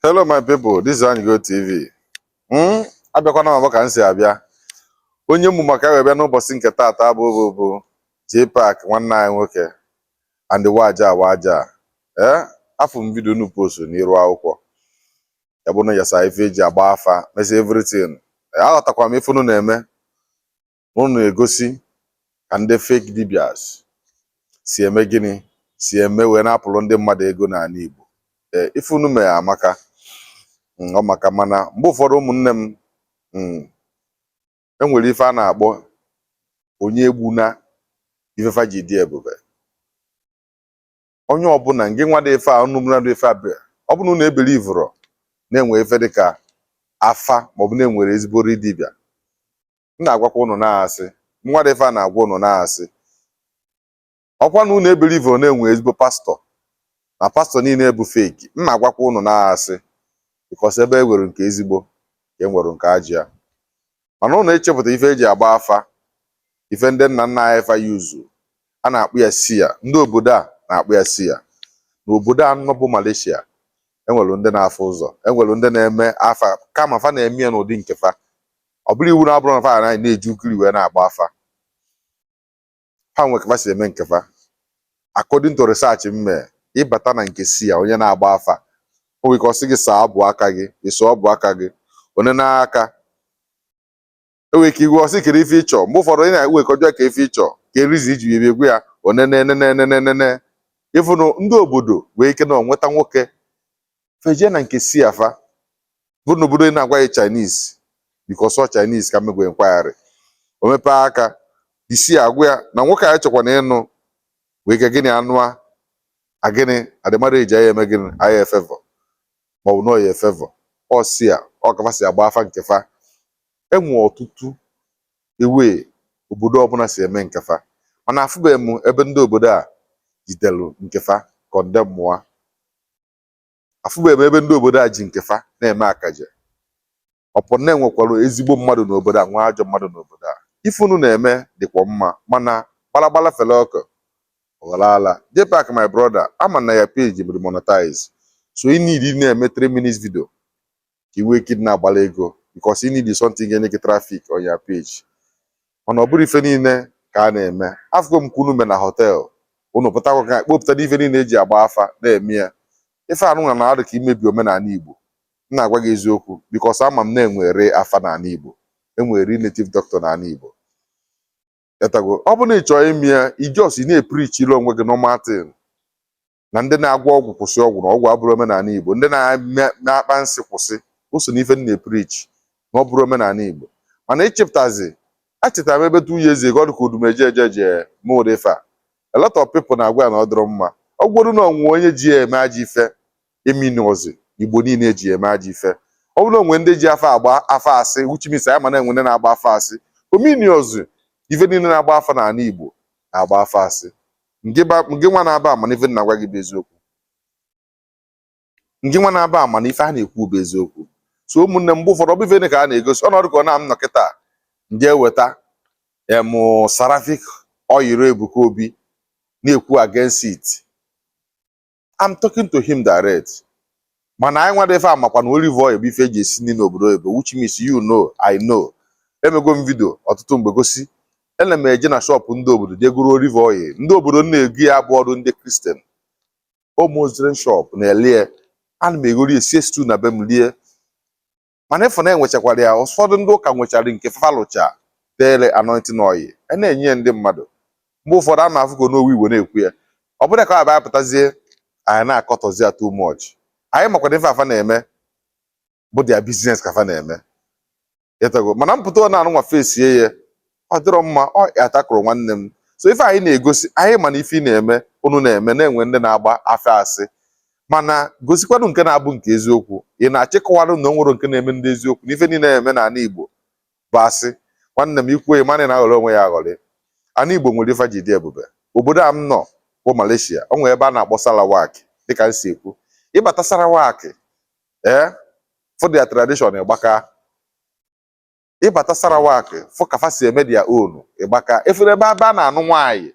Hello my people, this is Anyigo TV. Hmm? Abịakwana m abụ ka m si abịa. Onye mụ maka ya wee bịa n'ụbọchị nke taata bụ bụ bụ J-Pac nwanne anyị nwoke and waja waja. Eh? Afụ m vidio unu post n'iru akwụkwọ. Ya bụ na yasa ife eji agba afa, mesịa everything. Eh, aghọtakwa m ife unu na-eme. unu na-egosi ka ndị fake dibias si eme gịnị si eme wee na-apụrụ ndị mmadụ ego n'ala Igbo ee ife unu mee amaka mm, ọ maka mana mgbe ụfọdụ ụmụnne m mm, enwere ife a na-akpọ onye egbuna ife fa ji dị ebube onye ọbụla ngị nwa dị ife a unu mụna dị ife a bịa ọ bụrụ na unu ebelivụrọ na enwe ife dị ka afa maọbụ na enwere ezigbo real dibịa m na-agwakwa unu na asị nwa dị ife a na-agwa unu na asị ọkwa na unu ebelivụrọ na enwe ezigbo pastor na pastor niile bụ fake m na-agwakwa unu na asị because ebe e nwere nke ezigbo ka e nwere nke ajọ ya mana ụnụ echepụta ife eji agba afa ife ndị nna nna anyị fa use a na-akpọ ya seer ndị obodo a na-akpọ ya seer n'obodo a nọ bụ Malaysia enwere ndị na-afụ ụzọ enwere ndị na-eme afa kama fa na-eme ya n'ụdị nke fa ọ bụrọ iwu na abụrụ na fa na anyị na-eji ugiri wee na-agba afa ha nwe ka fa si eme nke fa according to research m mee ịbata na nke seer onye na-agba afa o nwere ike ọ sị gị saa ọbụ aka gị ị saa ọbụ aka gị o nee n'aka e nwere ike igwe ọ sị kedu ife ịchọ mgbe ụfọdụ onye na-enwe ike ọ jụọ gị ife ịchọ kedu reason i ji bịa ị gwa ya onenenenenenene ịfụnụ ndị obodo wee ike na ọ nwata nwoke feje na nke seer fa bụrụ na obodo ị na-agwa ya Chinese because ọ Chinese ka mmegwe nkwagharị o mepee aka isi agwa ya na nwoke a chọkwa na ị nwee ike gịnị anụa agịnị adịmara eji aya eme gịnị aya efevọ maọbụ na ọya efevọ ọ si ya ọ ka fa si agba afa nke fa enwe ọtụtụ way obodo ọbụla si eme nke fa mana afụbeghị m ebe ndị obodo a jidelu nke fa condemnụọ afụbeghị m ebe ndị obodo a ji nke fa na-eme akaje ọ bụ na enwekwarọ ezigbo mmadụ n'obodo a nwee ajọ mmadụ n'obodo a ife unu na-eme dịkwa mma mana gbalagbala fere oke ọ ghọrọ ala jpac my brother ama m na your page dị monetize so ị need ị na-eme 3 minutes video ka i wee ike dị na-agbara ego because you need something ga-enye gị traffic on your page mana ọ bụrọ ife niile ka a na-eme afụgo m ka unu me na họtel unu pụtakwa ka kpopụta ife niile eji agba afa na-eme ya ife anụnwa na-adị ka imebi omenala Igbo m na-agwa gị eziokwu because ama m na enwere afa n'ala Igbo enwere native doctor n'ala Igbo ịghọtago ọ bụrụ na ị chọọ ime ya ị just ị na-eprichiri onwe gị normal thing na ndị na-agwọ ọgwụ kwụsị ọgwụ na ọgwụ abụrọ omenala Igbo ndị na-akpa nsị kwụsị o so n'ife na-eprichi na ọ bụrọ omenala Igbo mana ịchịpụtazi echetara m ebe two years ago dịka odumeje eje je ma ụdị ife a a lot of people na-agwa ya na ọ dịrọ mma ọ bụrụ na o nwee onye ji ya eme ajọ ife o minirọzi Igbo niile ji ya eme ajọ ife ọ bụrụ na o nwee ndị ji afa agba afa asị which means anyị ma na enwe ndị na-agba afa asị o minirọzi ife niile na-agba afa n'ala Igbo na-agba afa asị ngịnwa na-aba ama na ife na-agwa gị bụ eziokwu ngịnwa na-aba ama na ife a na-ekwu bụ eziokwu so ụmụnne mgbe ụfọdụ ọ bụ ife ka a na-egosi ọnọdụ ka ọ na-am nọ kịta ndị eweta em Seraphic oil Ebuka Obi na-ekwu against it I'm talking to him direct mana anyị nwa dị ife a makwa na olive oil bụ ife eji esi nri n'obodo oyibo which means you know I know emego m vidio ọtụtụ mgbe gosi ana m eje na shọpụ ndị obodo jee goro olive oil ndị obodo na-ego ya abụrọdụ ndị kristian ọ Muslim shọpụ na-ele ya ana m egori esie stew na be m lie mana ịfụ na enwechakwara ya ụfọdụ ndị ụka nwechara nke fa lụcha dere anointing oil a na-enye ya ndị mmadụ mgbe ụfọdụ a na-afụgo n'owu igbo na-ekwu ya ọ bụrụ ka abịa pụtazie anyị na-akọtọzi ya too much anyị makwara ife fa na-eme bụ dia biznes ka fa na-eme ịtago mana m pụta ọ na-anụ nwa fesie ya ọ dịrọ mma ọ atakụrụ nwanne m so ife anyị na-egosi anyị ma na ife ị na-eme unu na-eme na e nwe ndị na-agba afa asị mana gosikwanụ nke na-abụ nke eziokwu ị na-achọ ịkọwarụ na o nwerọ nke a na-eme dị eziokwu na ife niile na-eme n'ala Igbo bụ asị nwanne m i kwuo ị ma na ị na-aghọrị onwe gị aghọrị ana Igbo nwere ife ji dị ebube obodo a m nọ bụ Malaysia ọ nwere ebe a na-akpọ Sarawak dịka m si ekwu ịbata Sarawak ee eh, fụ their tradition gbaka ịbata Sarawak fụ ka fa si eme dia own ịgbaka ị fụrụ ebe ebe a na-anụ nwaanyị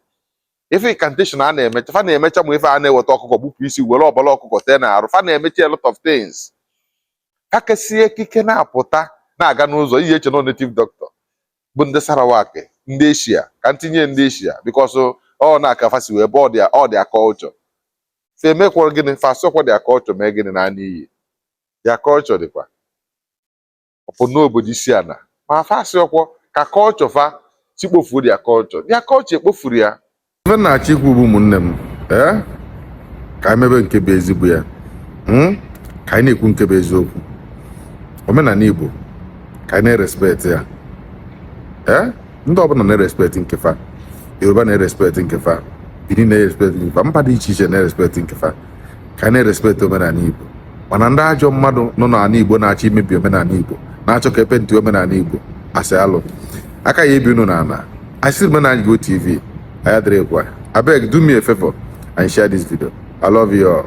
ife incantation a na-emecha fa na-emecha ma ife a na-eweta ọkụkọ gbupụ isi were ọbara ọkụkọ tee na arụ fa na-emecha a lot of things fa kesie ekike na-apụta na-aga n'ụzọ ị ya-eche na native doctor bụ ndị Sarawak ndị Eshia ka m tinye ndị Eshia because ọ na-aka fa si wee bụ ọ dia ọ dia culture fa emekwara gịnị fa asọkwa dia culture mee gịnị na n'iyi dia culture dịkwa ọ bụ n'obodo isi ana ma fa asịrọkwa ka kọlchọ fa si kpofuo dia kọlchọ dia kọlchọ ekpofurọ ya ife m na-achọ ikwu bụ ụmụnne m ee ka anyị mebe nke bụ ezigbo ya hmm? ka anyị na-ekwu nke bụ eziokwu omenala igbo ka anyị na-erespekt ya ee ndị ọbụla na-erespekt nke fa yoruba na-erespekt nke fa bini na-erespekt nke fa mba dị iche iche na-erespekt nke fa ka anyị na-erespekt omenala igbo mana ndị ajọ mmadụ nọ n'ala Igbo na-achọ imebi omenala Igbo na-achọ ka e penti omenala Igbo as alụ aka ya-ebi unu n'ala asị omenala Igbo TV a ya dịrịkwa abeg do me a favor and share this video I love you all.